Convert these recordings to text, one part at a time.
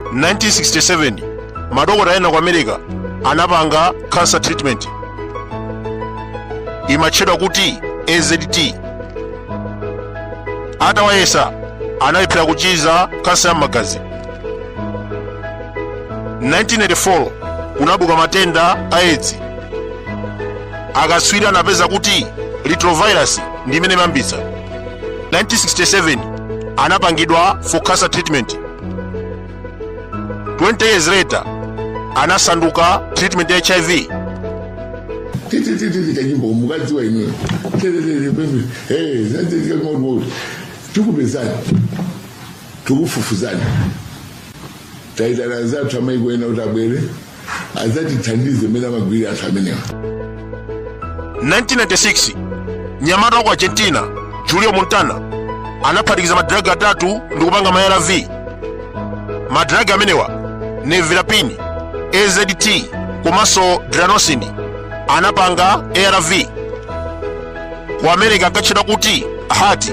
1967 madokotala ena ku america anapanga cancer treatment imatchedwa kuti azt atawayesa analephera kuchiza kansa ya magazi 1984 kunabuka matenda a edzi akatswiri anapeza kuti retrovirus ndi imene imayambitsa 1967 anapangidwa for cancer treatment 20 years later anasanduka treatment ya hiv titititi kanyimbo mukadziwa inuyo tetetetepepe tikupezani tikufufuzani taitana anzathu amaiko ena kuti abwere adzatithandize mmene amagwirira anthu amenewa 1996 mnyamata wa ku argentina julio montana anaphatikiza madragi atatu ndi kupanga ma arv madragi amenewa nevirapine azt komanso dranosini anapanga arv ku america ankatchedwa kuti haart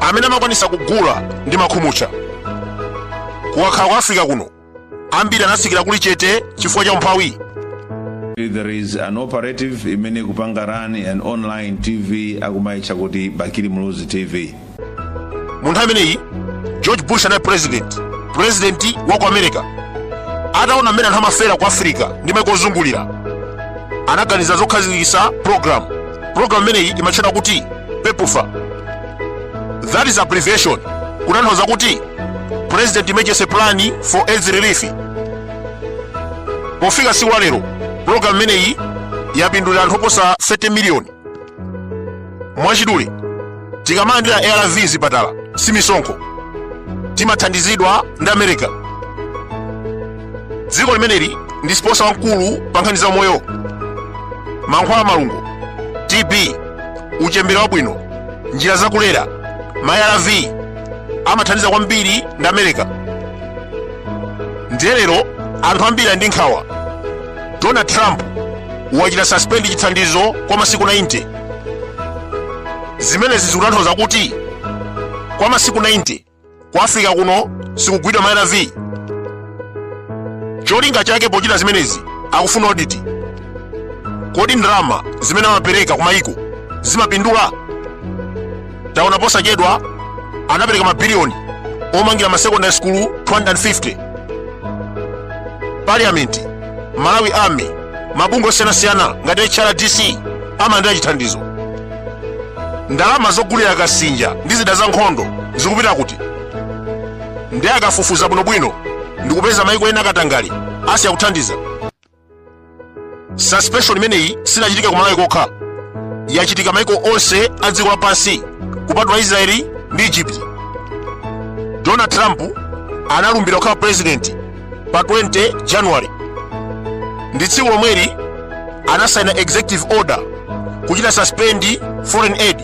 amene amakwanisa kugula ndi makhumucha kukakhala ku africa kuno ambiri anatsikira kuli chete chifukwa cha umphawi There is an operative imene kupanga run an online TV akumaitcha kuti Bakili Muluzi TV. mu nthawi imeneyi george bush anali president president wa ku america ataona mmene anthu amafera ku africa ndi maiko ozungulira anaganiza zokhazikitsa program program imeneyi imatchedwa kuti pepfar that is abbreviation kutanthauza kuti president emergency plan for aids relief pofika tsiku la lero program imeneyi yapindulira anthu oposa 30 miliyoni mwachidule tikamalandira arv mzipatala si misonkho timathandizidwa ndi america dziko limeneli ndi sponsor wamkulu pa nkhani za umoyo mankhwala a malungo tb uchembere wabwino njira zakulera ma arv amathandiza kwambiri ndi america ndiye lero anthu ambiri ali ndi nkhawa donald trump wachita suspend chithandizo kwa masiku 90 zimenezi zikutanthauza kuti kwa masiku 90 ku africa kuno sikugulidwa ma arv cholinga chake pochita zimenezi akufuna audit kodi ndalama zimene amapereka kumayiko zimapindula taona posachedwa anapereka mabiliyoni omangira ma secondary school 250 parliament malawi army mabungwe osiyanasiyana ngati hrdc amalandira chithandizo ndalama zogulira kasinja ndi zida za nkhondo zikupita kuti ndi akafufuza bwinobwino ndikupeza maiko ena akatangale asiya kuthandiza suspension imeneyi sinachitika ku malawi kokha yachitika maiko onse a dziko lapansi kupatula israeli ndi egypt donald trump analumbira kukhala president pa 20 january ndi tsiku lomwelo anasaina executive order kuchita suspend foreign aid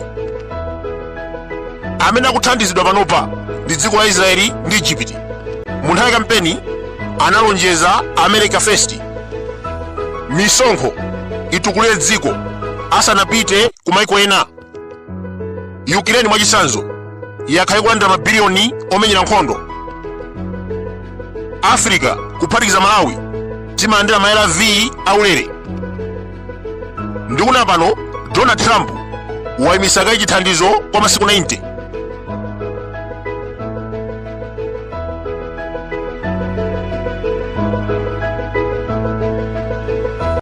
amene akuthandizidwa panopa ndi dziko la israeli ndi egypt mu nthawi ya kampeni analonjeza america first misonkho itukulire dziko asanapite kumaiko ena ukraine mwachisanzo yakhala ikulandira mabiliyoni omenyera nkhondo africa kuphatikiza malawi timalandira ma arv aulere ndikunena pano donald trump wayimisa kaye chithandizo kwa masiku 90